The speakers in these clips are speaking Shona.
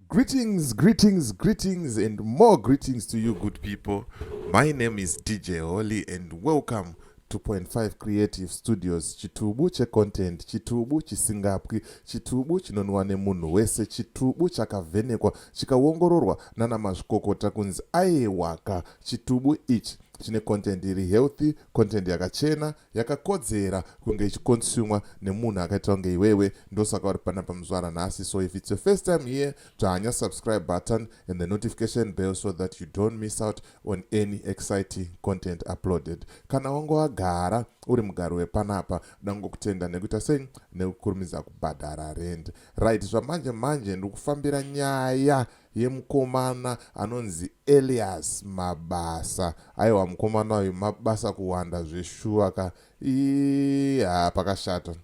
Greetings, greetings, greetings, and more greetings to you, good people. My name is DJ Holly, and welcome to Point Five Creative Studios. Chitubu che content, chitubu chisingapwi, chitubu chinonwa nemunhu wese, chitubu chakavhenekwa, chikawongororwa nana mazvikokota kunzi aiwaka, chitubu ichi chine content iri healthy, content yakachena, yakakodzera kunge ichikonsumwa nemunhu akaita kunge iwewe ndosaka uri pana pamuzvara nhasi so if its your first time here dzvanya subscribe button and the notification bell so that you don't miss out on any exciting content uploaded kana wange wagara uri mugari wepanapa dangokutenda nekuita sei nekukurumidza kubhadhara rend right zvamanje manje ndikufambira nyaya yemukomana anonzi Elias Mabasa aiwa mukomana uyu mabasa kuwanda zveshuwa ka ii haa pakashata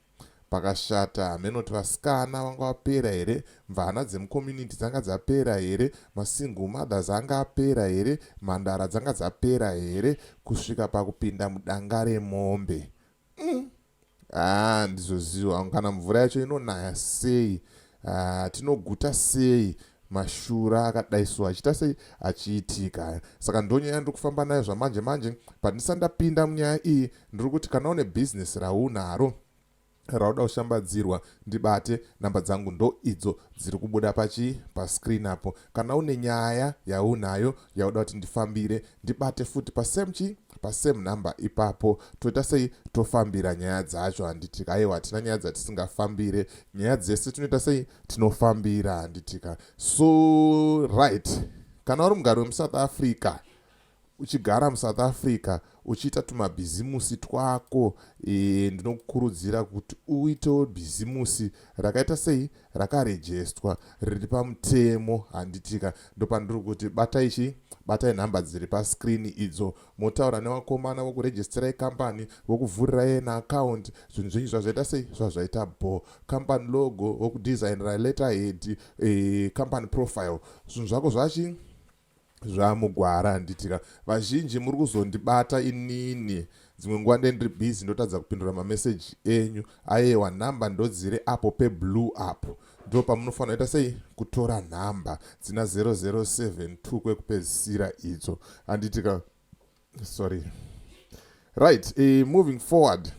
pakashata hameno kuti vasikana vanga vapera here mvana dzemucommunity dzanga dzapera here masingle mothers anga apera here mhandara dzanga dzapera here kusvika pakupinda mudanga remombe mm. ah, ndizoziva hangu kana mvura yacho inonaya sei ah, tinoguta sei mashura akadai so achiita sei achiitika saka ndonyaya ndiri kufamba nayo zvamanje manje pandisa ndapinda munyaya iyi ndiri kuti kana une bhizinesi raunaro rauda kushambadzirwa ndibate namba dzangu ndo idzo dziri kubuda pachi pascreen apo Kana une nyaya yaunayo yauda kuti ndifambire ndibate futi pasame chi pasame number ipapo toita sei tofambira nyaya dzacho handitika aiwa hatina nyaya dzatisingafambire nyaya dzese tinoita sei tinofambira handitika so right kana uri mugari wemusouth africa uchigara musouth africa uchiita tumabhizimusi twako e, ndinokukurudzira kuti uitewo bhizimusi rakaita sei rakarejestwa riri pamutemo handitika ndopandiri kuti batai chii batai nhamba dziri pascreen idzo motaura nevakomana vokurejestirai kambani vokuvhurirai na akaunti zvinhu zvenyu zvazvaita sei zvazvaita bo kambani logo vokudesignera letter head e, company profile zvinhu zvako zvachii zvamugwara handiti ka vazhinji muri kuzondibata inini dzimwe nguva nde ndiri busy ndotadza kupindura mameseji enyu ayewa nhamba ndodziri apo peblue apo ndo pamunofanira ita sei kutora nhamba dzina 0072 kwekupedzisira idzo handiti ka sorry right uh, moving forward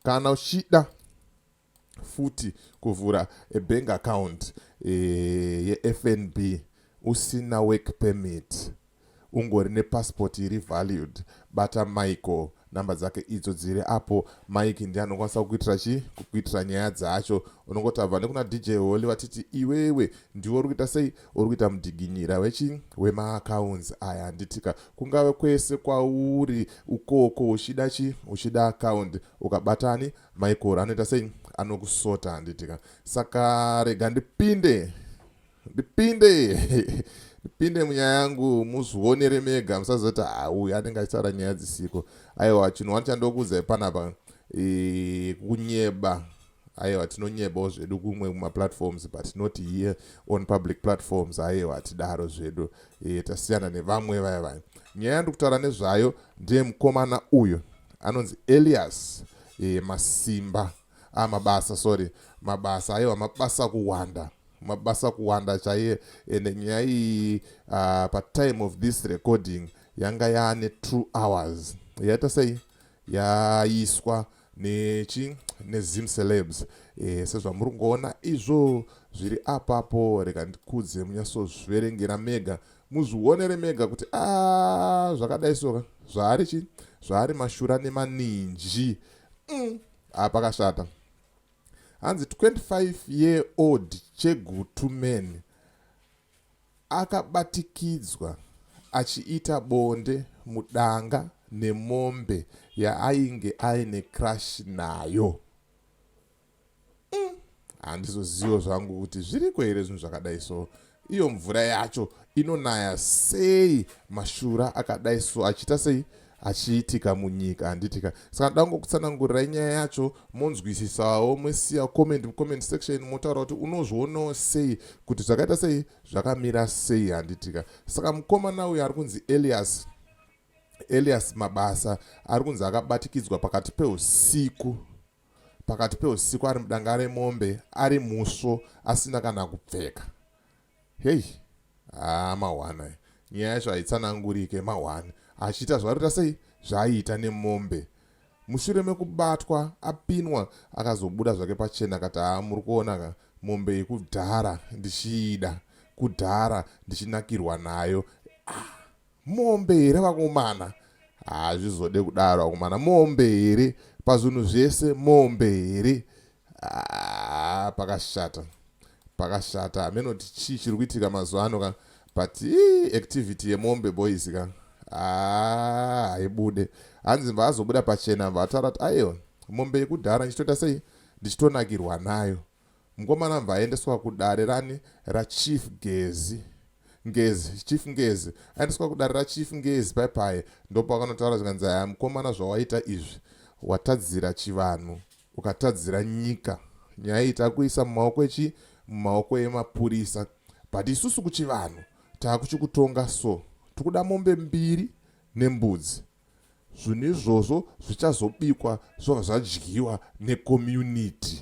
kana uchida futi kuvhura a bank account eh, yefnb usina work permit ungori nepassport iri valued bata michael namba dzake idzo dziri apo mike ndi anokwanisa kukuitira chi kukuitira nyaya dzacho unongotava nekuna dj holy vatiti iwewe ndiwe uri kuita sei uri kuita mudiginyira wechi wemaaccounts aya handitika kungave kwese kwauri ukoko uchida chi uchida account ukabatani Michael anoita sei anokusota handiti ka saka rega ndipinde ndipinde ndipinde munyaya yangu muzvionere mega musazoti hauyu ah, anenge achitaura nyaya dzisiko aiwa chinhu wani chandokuudzai panapa e, kunyeba aiwa tinonyebawo zvedu kumwe kumaplatforms but not here on public platforms aiwa hatidaro zvedu e, tasiyana nevamwe vaya vaya nyaya yandikutaura nezvayo ndiye mukomana uyu anonzi Elias e, Masimba ah, mabasa sorry mabasa aiwa mabasa kuwanda mabasa kuwanda chaiye ende nyaya iyi uh, patime of this recording yanga yaane two hours yaita sei yaiswa nechi nezim celebs e, sezvamuri kungoona izvo zviri apapo reka ndikudze munyatsozviverengera mega muzvionere mega kuti a ah, zvakadai soka zvaari chi zvaari mashura nemaninji mm, a ah, pakashata hanzi 25 year old chegutu man akabatikidzwa achiita bonde mudanga nemombe yaainge aine crash nayo mm. handizozivo zvangu kuti zviriko here zvinhu zvakadai so iyo mvura yacho inonaya sei mashura akadai so achiita sei achiitika munyika handitika saka ndango kutsanangurirai nyaya yacho monzwisisawo mosiya comment mucomment section motaura kuti unozvionawo sei kuti zvakaita sei zvakamira sei handitika saka mukomana uyo ari kunzi elias elias mabasa ari kunzi akabatikidzwa pakati peusiku pakati peusiku ari mudanga remombe ari musvo asina kana kupfeka hei haa mahwana nyaya yacho haitsanangurike mahwani achiita zvaroita sei zvaaiita nemombe mushure mekubatwa apinwa akazobuda zvake pachena akati haa muri kuona ka mombe yekudhara ndichiida kudhara ndichinakirwa nayo ah. mombe here vakomana hazvizode kudaro vakomana mombe here pazvinhu zvese mombe here ah, pakashata pakashata hameno kuti chii chiri kuitika mazuva ano ka but activity yemombe boys ka ah, haibude hanzi vaazobuda pachena vataura kuti aiwa mombe yekudhara ndichitoita sei ndichitonakirwa nayo Mkomana mva aendeswa kudare rani rachief Gezi Ngezi chief Ngezi aendeswa kudare rachief Ngezi pai pai ndopakanotaura zvikanzi aya mkomana zvawaita izvi watadzira chivanhu ukatadzira nyika nyaya iyi takuisa mumaoko echi mumaoko emapurisa but isusu kuchivanhu takuchikutonga so tikuda mombe mbiri nembudzi Zvinhu izvozvo zvichazobikwa zvobva zvadyiwa necommunity.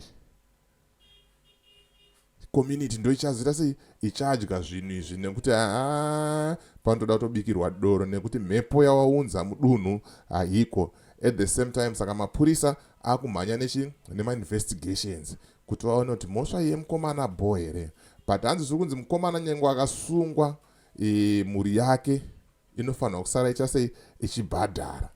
Community ndo ichazoita sei ichadya zvinhu izvi nekuti haa panotoda kutobikirwa doro nekuti mhepo yawaunza mudunhu haiko. At the same time saka mapurisa akumhanya nechi nemainvestigations kuti vaone kuti mhosva yemukomana bho here but hanzi zviri kunzi mukomana nyengo akasungwa e, mhuri yake inofanirwa kusara icha sei ichibhadhara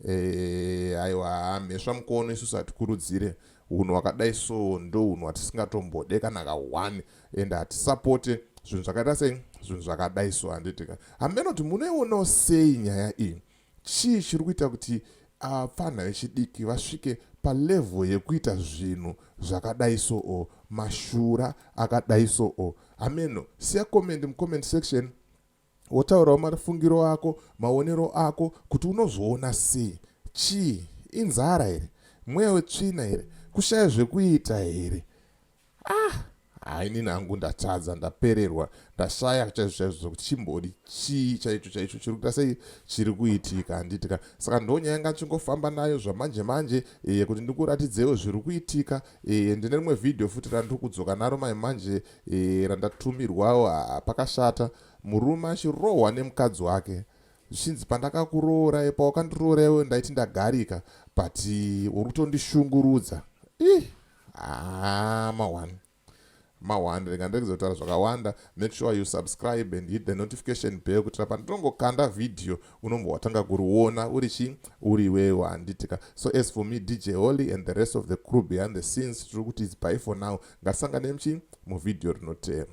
eh, aiwa mhesva mukono isusu hatikurudzire unhu wakadai so ndo unhu watisingatombode kana ka one and hatisapote zvinhu zvakaita sei zvinhu zvakadai so handitika hameno kuti munoionawo sei nyaya iyi chii chiri kuita kuti apfanha vechidiki vasvike palevhel yekuita zvinhu zvakadai so o mashura akadai so o hameno siya comment mucomment section Wotaurawo mafungiro ako, maonero ako kuti unozviona sei. Chii? Inzara here? Mweya wetsvina here? Kushaya zvekuita here? Ah! hainini hangu ndatadza ndapererwa ndashaya chaizvo chaizvo zvekuti chimbori chii chaicho chaicho chiri kuita sei chiri kuitika handiti ka saka ndonyaya yanga ndichingofamba nayo zvamanje manje e, kuti ndikuratidzewo zviri kuitika e, ndine rimwe vhidhiyo futi randiri kudzoka naro mai manje e, randatumirwawo haa pakashata murume achirohwa nemukadzi wake zvichinzi pandakakuroorai pawakandirooraiwo ndaiti ndagarika but uri kutondishungurudza ih haa mawan mahwanda rega ndiregedza kutaura zvakawanda make sure you subscribe and hit the notification bell kutira pandinongokanda vhidhiyo unombwa watanga kuriona uri chii uri wewo handitika so as for me dj holy and the rest of the crew behind the scenes tiri kuti its by for now Ngatisanganei mchi muvhidhiyo rinoteera.